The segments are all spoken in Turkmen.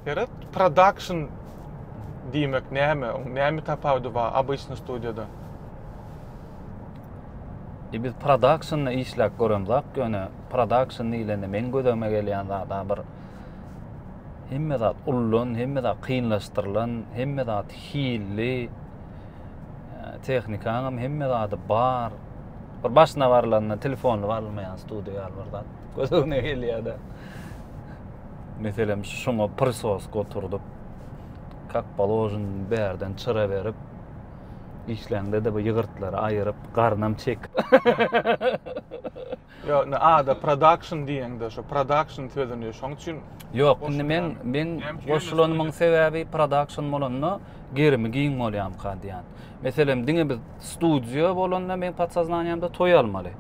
Seret, production diýmek näme? Oň näme tapawudy bar obyçny studiýadan? E biz production işläp göremzak ýöne production diýlende meň gözüme gelýän zada bir hemme zat ullan, hemme zat kynlaşdyrylan, hemme zat hilli. E, Tehnikaňam hemme zady bar. Bir başyna barylanda telefonly barylmaýan studiýa ýaly bir zat gözüme gelýär-de. Meselem, şuňa prisoska oturdyp, kak položyn bärden çyra berip, işläňde-de bu ýygyrtlary aýyryp, garnam çek. Ýok, indi ada production diýeňde, şu production sözüni şoň üçin Ýok, indi men men goşulanymyň sebäbi production bolanda gerimi giň bolýamyka diýýän. Meselem, diňe biz studio bolanda men podsoznaniýamda toý almaly.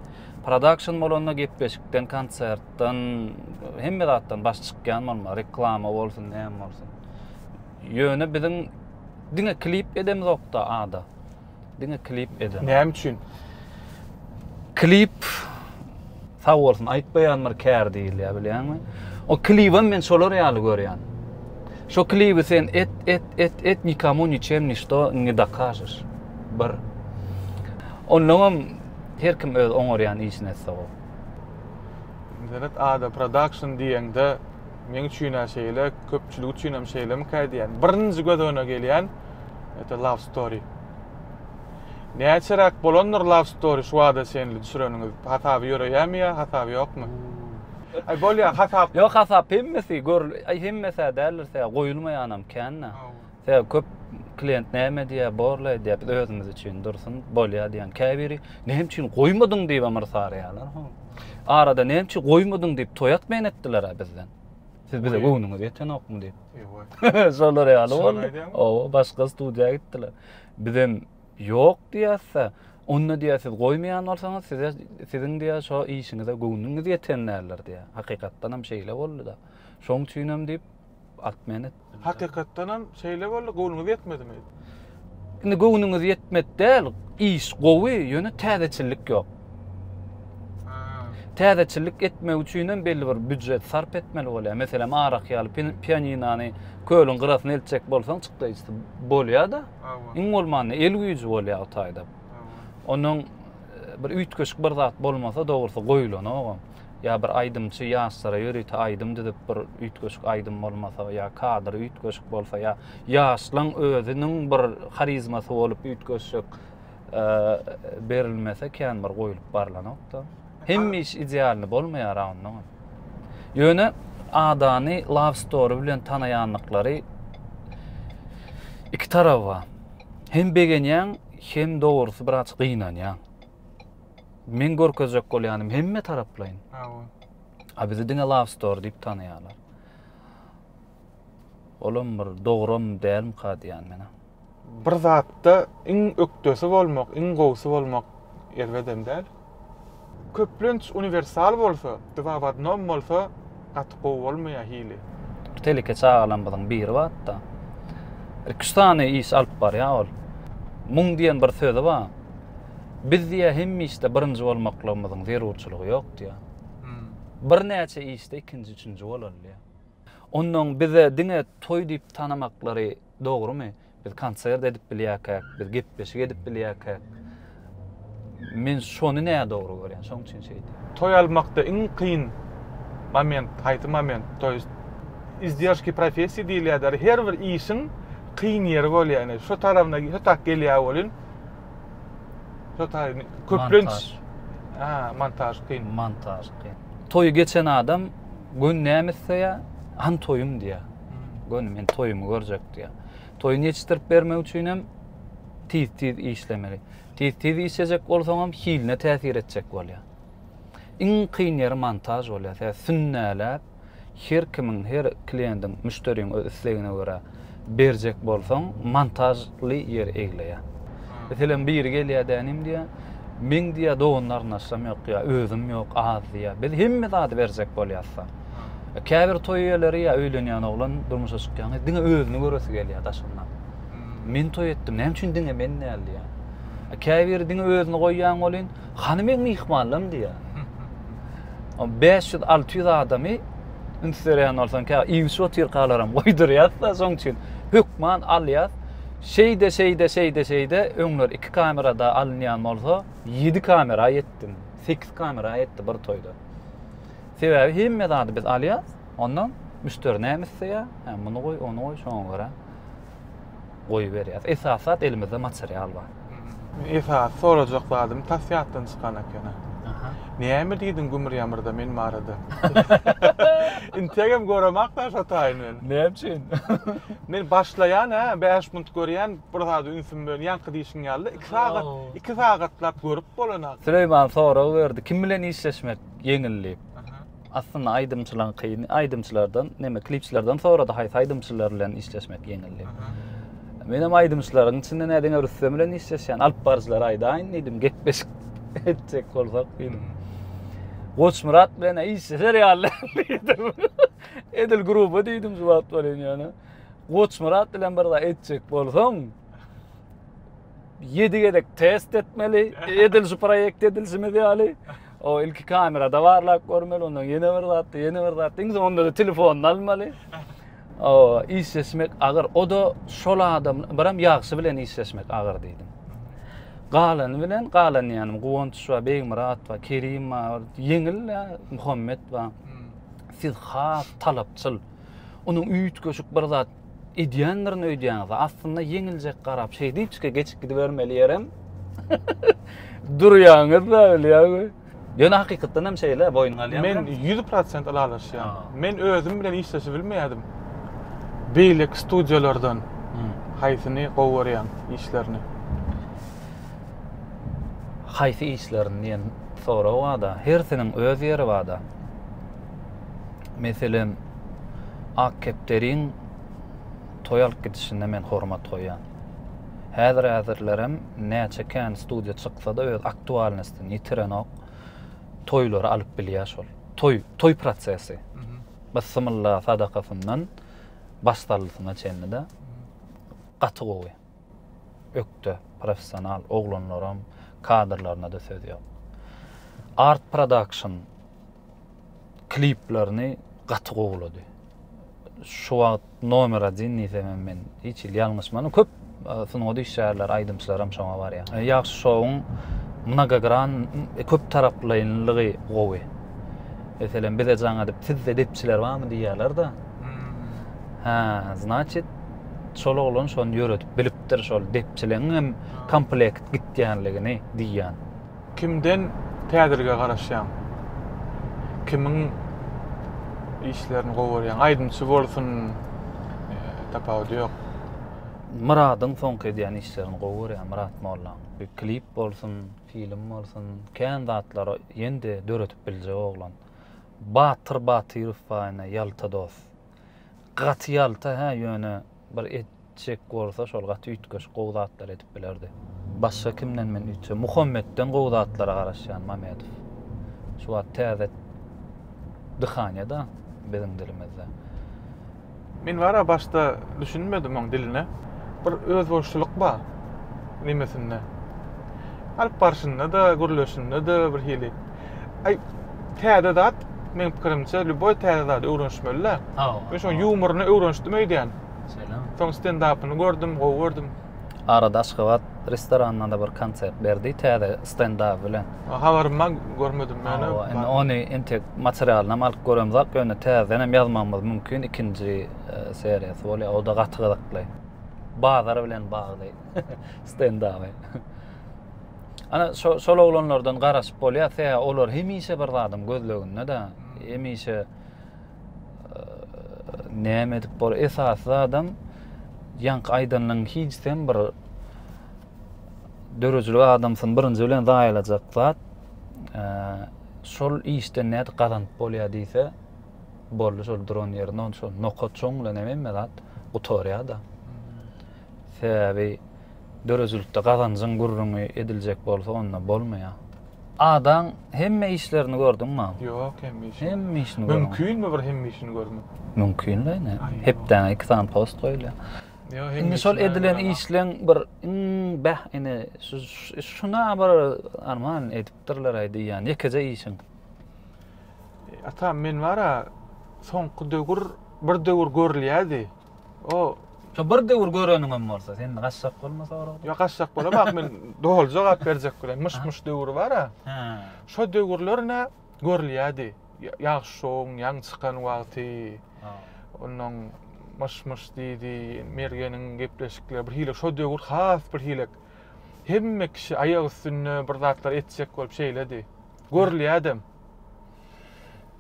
Production bolanda gepleşikden konsert, zatdan, hemme zatdan baş çykýan bolmaly, reklama bolsun, näme bolsun. Ýöne biziň diňe klip edemizok-da ada. Diňe klip edem. Näme üçin? Klip sag bolsun aýtmaýan bir kär diýilýär, bilýäňmi? O klibem men şolar ýaly görýän. Şo klibi sen et, et, et, et, nikomu niçem nişto ne dokažeš. Bir. Ondan hem her kim öz oňarýan işini etse o. Internet ada production diýeňde meň üçin-ä şeýle, köpçülik üçin hem şeýlemikä diýýän. Birinji göz öňüne gelýän ete love story. Näçeräk bolandyr love story şu wada çenli düşüreniňiz? Hasaby ýöreýärmi ýa hasaby ýokmy? Aý bolýa hasap. Ýok hasap hemmesi gör, aý hemmesi-ä däldir, goýulmaýanam kän-ä. Sebäbi köp klient näme diýýär, borla edýär, biz özümiz üçin dursun, bolýar diýýän. Käbiri näme üçin goýmadyň diýip hem yrsarýarlar. Ho. Arada näme üçin goýmadyň diýip toý atmaýan etdiler-ä bizden. Siz bize göwnüňiz ýetenokmy diýip. Ewa. Şolar ýaly boldy. Oba, başga studiýa gitdiler. Biz hem ýok diýýäs-de, onda diýýär siz goýmaýan bolsaňyz, size siziň diýýär şo işiňize göwnüňiz ýeten däldir diýýär. Hakykatdan hem şeýle boldy-da. Şoň üçin hem diýip, At meni. Hakykatdan hem şeýle boldy, göwnüňiz ýetmedimi? Indi göwnüňiz ýetmedi däl, iş gowy, ýöne täzeçillik ýok. Täzeçillik etmek üçin hem belli bir býujet sarp etmeli bolýar. Meselem, arak ýaly pianinany kölüň gyrasyna eltjek bolsaň, çykdaýjysy bolýar-da. Iň bolmanda el güýji bolýar o taýda. Onuň e, bir üýtgeşik bir zat bolmasa, dogrusy goýulanogam. ýa bir aýdymçy ýaşlara ýörite aýdym düzüp bir üýtgeşik aýdym bolmasa ýa kadr üýtgeşik bolsa ýa ýaşlaň özüniň bir harizmasy bolup üýtgeşik e, berilmese kän bir goýlup barlanokda hem iş idealny bolmaýar ondan ýöne adany love story bilen tanaýanlyklary iki tarap bar hem begenýäň hem dogrusy biraz gynanýaň men görkezjek bolýanym hemme taraplaýyn. Hawa. A bizi diňe Love Store diýip tanaýarlar. Olam bir dogram dälmi ka diýýän men. Bir zatda iň ökdesi bolmak, iň gowusy bolmak erbedem däl. Köplenç uniwersal bolsa, dwa w odnom bolsa gaty gowy bolmaýar hili. Teleke çagalarymyzyň biri batda. Iki-üç sany iş alyp barýar ol. Muň diýen bir sözi bar. Biz diýýär hemme işde birinji bolmaklygymyzyň zerurçylygy ýok diýýär. Birnäçe işde ikinji, üçünji bolaly diýýär. Onnoň bize diňe toý diýip tanamaklary dogrumy? Biz konsert edip bilýärkäk, biz gepleşik edip bilýärkäk. Men şony nädogry görýän, şoň üçin şeýdýän. Toý almakda iň kyn moment haýsy moment? To ýest izdержки professiýa diýilýär däl, her bir işiň kyn ýeri bolýar. Ine şu tarabyna şu tak gelýär welin, Totaý köplenç ha montaž kyn. Montaž kyn. Toýy geçen adam göni näme isleýä? Han toýum diýä. Göni men toýumy görjek diýä. Toýuny ýetişdirip bermek üçin hem tiz-tiz işlemeli. Tiz-tiz işlejek bolsaň hem hiline täsir etjek bolýa. Iň kyn ýeri montaž bolýa. Tä sünnäläp her kimiň, her kliýendiň, müşderiň öz islegine görä berjek bolsaň, montažly ýeri egleýär. Meselem, biri gelýär dä inim diýýär, Meň diýýär dogan-garyndaşlarym ýok diýýär, özüm ýok, az diýýär. Biz hemme zady berjek bolýasda. Käbir toý eýeleri ýa öýlenýän oglan, durmuşa çykýan gyz diňe özüni göresi gelýär daşyndan. Men toý etdim, näme üçin diňe men däl diýýär. Käbiri diňe özüni goýýan welin, Hany meň myhmanlarym diýýär. O 500-600 adamy üns berýän bolsaň, kä iýuçy otyrkalaram goýdurýas-da, şoň üçin hökman alýas. Şeýde, şeýde, şeýde, şeýde, öňler iki kamerada alynýan bolsa, ýedi kamera ýetdim, sekiz kamera ýetdi bir toýda. Sebäbi hemme zady biz alýas, ondan müşderi näme isleýär, hä, muny goý, ony goý, şoňa görä. goýberýäs. Esas zat elimizde material bar. Esasy sorajak zadym tas ýatdan çykan ekeni. Näme diýdiň Gümür Ýamyrda men barada? Integem göremak da şo taýyn men. Näme üçin? Men başlaýan hä, bäş minut görýän, bir zada ünsüm bilen ýaňky diýşiň ýaly-da, iki sagat, iki sagatlap görüp bolanok. Süleýman sorag berdi, kim bilen işleşmek ýeňil diýip. Aslynda aýdymçylaň kyn aýdymçylardan neme klipçilerden sorady haýsy aýdymçylar bilen işleşmek ýeňil diýip. Men hem aýdymçylaryň içinde nä diňe Rüstem bilen işleşýän alyp baryjylary aýdaýyn diýdim gepleşik etjek bolsak diýdim. Goçmyrat bilen işleşer ýaly diýdim. Edil gruba diýdim şu wagt bolýan ýöne. Goçmyrat bilen bir zat etjek bolsaň 7 gezek test etmeli. Edilişi proýekt edilişimiz ýaly. O ilki kamerada barlap görmeli, ondan ýene bir zat, ýene bir zat. Iň soňunda da telefonyny almaly. O işleşmek agyr. O da şol adam, biram ýagşy bilen işleşmek agyr diýdim. Galany bilen, galan ýanym Guwanç we Begmyrat we Kerim bar, ýeňil we Muhammet bar. Hmm. Siz has talapçyl. Onuň üýtgeşik bir zat edýändirin öýdýäňiz. Aslynda ýeňiljek garap şeý diýipçike geçip gidibermeli ýerem durýaňyz-da bilýäňmi? Ýöne hakykatdan hem şeýle boýun galýan. Men 100% ylalaşýan. Men özüm bilen işleşip bilmeýädim. Beýleki studiýalardan haýsyny gowy görýäň işlerini? Haýsy işlerini diýen sorag bada, hersiniň öz ýeri bada. Meselem, ak kepderiň toý alyp gidişine men hormat goýýan. Häzir-häzirlerem näçe kän studiýa çyksa-da öz aktualnostyny ýitirenok. Toýlary alyp bilýär şol. Toý, toý prosesi. Bysymylla sadakasyndan başsallysyna çenli-de gaty gowy. ökde professional oglanlaram kadrlarynada söz ýok. Art production kliplerini gaty gowulady. Şu wagt nomer 1 diýsemem men hiç il ýalňyşmanyn. Köp sungat işgärleri, aýdymçylaram şoňa barýar. E, ýagşy şowuň mnogogran e, köp taraplaýynlygy gowy. Meselem bize jaň edip sizde depçiler barmy diýýärler-de. Hmm. Ha, значит, Şol oglan şony ýöredip bilipdir şol depçileň hem komplekt gitýänligini diýýän. Kimden täzelige garaşýaň? Kimiň işlerini gowy görýäň? Aýdymçy bolsun, tapawudy ýok. Myradyň soňky edýän işlerini gowy görýän Myrat Mollaň. Bir klip bolsun, film bolsun, kän zatlary ýen-de döredip biljek oglan. Batyr Batyrow baýna ýalta dos. Gaty ýalta hä ýöne bir et çek bolsa şol gaty üýtgeşik gowy zatlar edip bilerdi. Başga kimden men üýtse Muhammetden gowy zatlara garaşýan Mamedow. Şu wagt täze dyhanya da biziň dilimizde. Men bara başda düşünmedim oň diline. Bir özboluşlylyk bar nemesinde. Alyp barşynda da gürleşinde de bir hili. Aý, täze zat, meň pikirimçe, lýuboý täze zady öwrenişmeli-dä. Hawa. Men şoň ýumoryny öwrenişdim öýdýän. Şeýlemi? Soň stendapyny gördüm, gowy gördüm. Arada Aşgabat restoranynda-da bir konsert berdi täze stendaby bilen. Habarym bar, görmedim men ony. Hawa, indi ony entek materialynam alyp göremzok, ýöne täzedenem ýazmagymyz mümkin, ikinji seriýasy bolýar, o-da gaty gyzykly. Bazar bilen bagly stendaby. Ana şo, şol oglanlardan garaşyp bolýar, seýä olar hemişe bir zadyň gözleginde-de, hemişe e, näme edip bor, esasy zadam ýaňky aýdanyň hiç sen bir döredijilik adamsyn birinji bilen zaýalajak zat e, şol işden näde gazanyp bolýar diýse boldy şol duran ýerinde şol nokat çoň bilen hemme zat gutarýar da sebäbi Döredijilikde gazanjyň gürrüňi ediljek bolsa onda bolmaýa. Adaň hemme işlerini gördüňmi? Ýok hemme işini. Hemme işini görmek. Mümkinmi bir hemme işini görmek? Mümkinle ine. Hepdäňe iki sany post goýulýar. Ýok hemme işini. Indi şol edilen işleň bir iň bäh ine şuna bir arman edipdirler-aý diýýän ýekeje işiň. Atam men bar-a soňky döwür bir döwür görülýärdi. O Şo bir döwür göreniňem bolsa, sen gaçjak bolma soragdan. Ýok, gaçjak bolam, ak men doly jogap berjek bilen. Myş-myş döwri bar-a. Hä. Şo döwürler nä görülýärdi. Ýagşy şowuň ýaňy çykan wagty. Onnoň myş-myş diýdi, Mergeniň gepleşikleri bir hili şo döwür has bir hili. Hemme kişi aýak üstünde bir zatlar etjek bolup şeýledi. Görülýädem.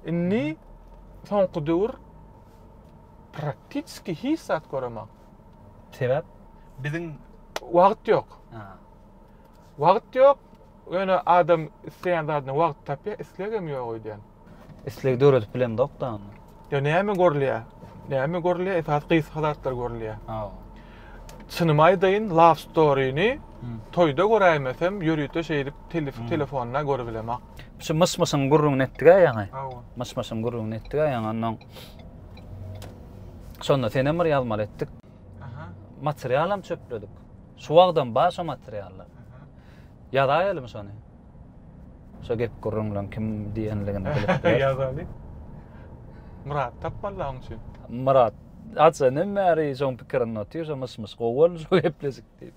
Indi soňky döwür Praktitski hiç zat göremok. Sebäp? Biziň wagt ýok. Wagt ýok. Ýöne adam isleýän zadyna wagt tapýar, islegem ýok öýdýän. Isleg döredip bilemzok-da onda. Ýa näme görülýär? Näme görülýär? Esasy gysga zatlar görülýär. Hawa. Çynymy aýdaýyn, Love Story-ni toýda göräýmesem, ýörite şeýdip telefonda görübilemok. Şu myş-myşyň gürrüňini etdik-ä ýaňy. Hawa. Myş-myşyň gürrüňini etdik-ä ýaňy onnoň. Şonda senem bir ýazmaly etdik. Aha. Materialam çöpledik. Şu wagtdan bar şo materiallar. Ýazaýalymy şony? Şo gep gürrüňleň kim diýenligini bilip. Ýazaly. Myrat tapmaly onuň üçin. Myrat, aç öňden bäri şoň pikirinde otyr, şo myş-myş gowy boldy şo gepleşik diýip.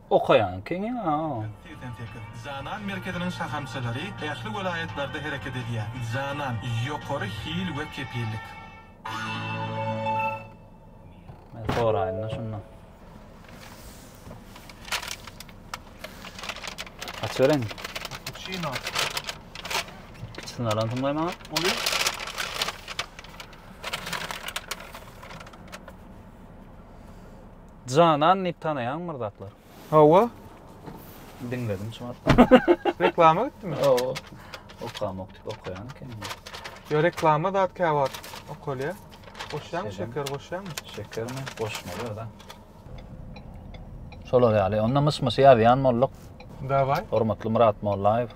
Okaýan kini a. Segsen sekiz. Janan merkeziniň şahamçalary ähli welaýatlarda hereket edýär. Janan, ýokary hil we kepillik. Men soraýyn-da şunda. Açybereýinmi? Kapuçino. Kiçisini alan soň goý maňa. Bolýar. Janan diýip tanaýaňmy bir zatlar? Hawa. Diňledim şu wagt. Reklama gitdimi? Hawa. Okamak diýip okaýan ekeni. Ýa reklama zat käwagt okalýar. Goşýaňmy şeker goşýaňmy? Şekermi? Goşmaly da. Şolar ýaly. Onda myş-myşy ýazýan bolduk. Daway. Hormatly Myrat Mollaýew.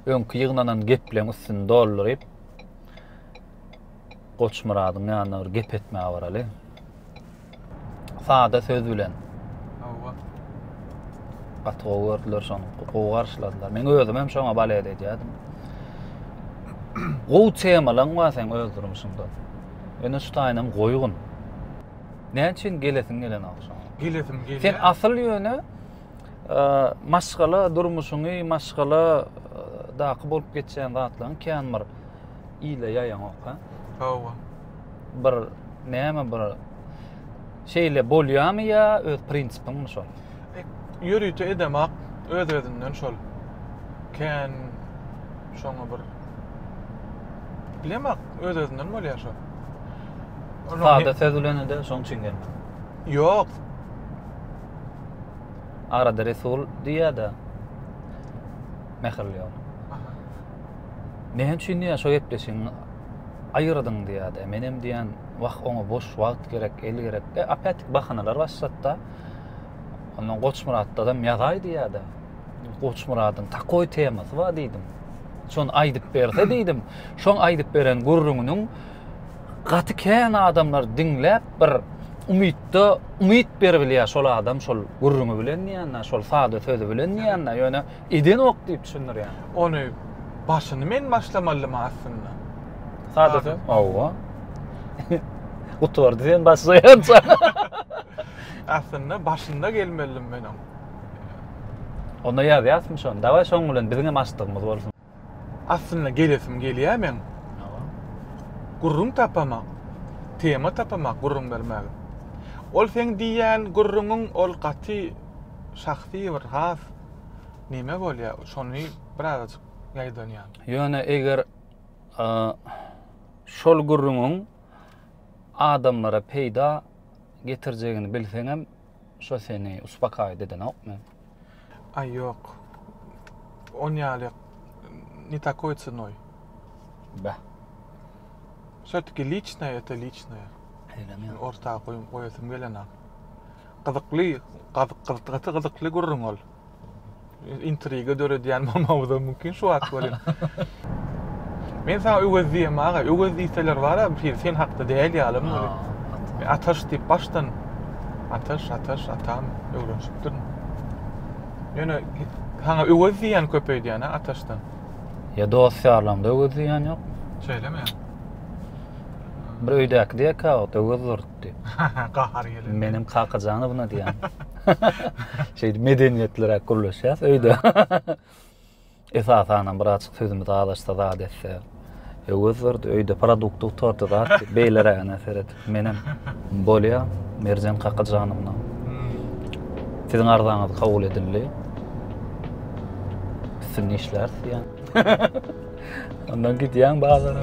Öňki ýygnanan gepleriň üstüni dolduryp, Goçmyradyň ýanyna bir gep etmäge baraly. Sada söz bilen. Hawa. Gaty gowy gördüler şony. Gowy garşyladylar. Men özüm hem şoňa balet edýärdim. Gowy temalaň bar sen öz durmuşyňda. Ýöne şu taýynam goýgun. Näme üçin gelesin gelen agşam? Gelesim gelýär. Sen asyl ýöne maşgala durmuşyňy, maşgala daky bolup geçýän zatlaryň kän bir ile ýaýaňok ha. Hawa. Bir näme bir şeýle bolýamy ýa öz prinsipiňmi şol? E, ýörite edemak öz özünden şol. Kän şoňa bir bilemak öz özünden bolýar şol. Sada söz bilen ede şoň üçin gelmedi. Ýok. Arada Resul diýýär-de. Mähirli ýol. Näme üçin diýýär şo gepleşigiňi aýyrdyň diýýärdi. Menem diýýän, wah oňa boş wagt gerek, el gerek. E apatik bahanalar başlatda. Ondan Goçmyratdadam ýazaý diýýärdi. Goçmyradyň takoý temasy bar diýdim. Şony aýdyp berse diýdim. Şoň aýdyp beren gürrüňiniň gaty kän adamlar diňläp bir umytda umyt berip bilýär şol adam şol gürrüňi bilen diýende, şol sada sözi bilen diýende. Ýöne Eden ok diýip düşündirýän. Ony başyny men başlamalymy aslynda? Sadasy, hawa. Gutardy sen başlaýança. aslynda başynda gelmelidim men oň. Onda ýazýasmy şony? Dawaý şoň bilen biziňem açdygymyz bolsun. Aslynda gelesim gelýär meň. Gürrüň tapamak, tema tapamak gürrüň bermäge. Ol seň diýýän gürrüňiň ol gaty şahsy bir has neme bolýar, şony birazajyk ýaýdanýan. Ýöne eger şol gürrüňiň adamlara peýda getirjegini bilseňem, Şo seni uspakaýt edenokmy? Aý ýok. On ýaly ne takoý cynoý. Bäh. Şötki liçnoý öte liçnoý. Eýlemi ýa. Orta goýasym gelenok. Gyzykly gaty gyzykly gürrüň ol. intriga döredýän mamamyz hem mümkin şu wagt welin. Men sana Öwez diýem aga, Öwez diýseler bar a, bir sen hakda däl ýaly muny. Men Ataş diýip başdan Ataş, Ataş, Atam öwrenşipdirin. Ýöne sana Öwez diýen köpeýdýän a Ataşdan. Ýa dost ýarlaňda Öwez diýen ýok. Şeýlemi? Bir öýdäki diýek a, Öwez dur. gitdi. Gahary gelende. Menem Kakajanowna diýýän. Şeýdip medeniýetliräk gürleşýäs öýde. Esasanam bir açyk sözümiz azaşsa zat etse. Öwez berdi öýde produkty gutardy zat. Beýlerägine seret. Menem bolýa Merjen Kakajanowna. Siziň arzaňyz kabul edildi. Üstünde işläris diýýän. Ondan gidýän bazara.